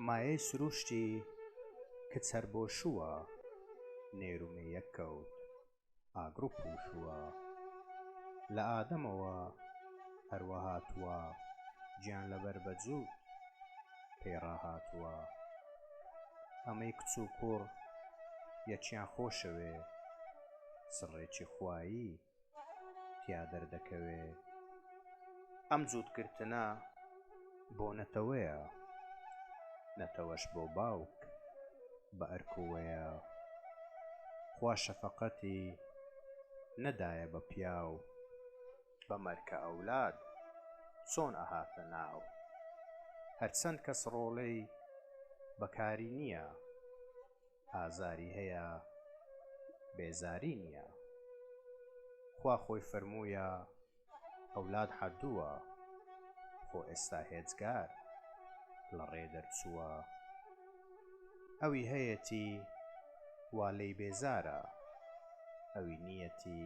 مایەی سرووشتی کچ هەر بۆ شووە، نێر و مێیەک کەوت ئاگر و پووشووە. لە ئادەمەوە هەر وا هاتووە، گیان لەبەر بە جووت. پێی ڕاهاتووە ئەمەی کچ و کوڕ یەکیان خۆشەوێ سڕێکی خوایی تیا دەردەکەوێ ئەم جووتگرتنە بۆ نەتەوەیە نەتەوەش بۆ باوک بە ئەرکوەیە خوا شەفەقەتی نەدایە بە پیاو بە مەرکە ئەولاد چۆن ئەهاتە ناو هەرچەند کەس ڕۆڵێی بەکاری نیە ئازاری هەیە بێزاری نیە خوا خۆی فەرموویە ئەولاد حەدووە خۆ ئێستا هێجگار لە ڕێ دەرچووە ئەوی هەیەتی وا لێی بێزارە ئەوی نیەتی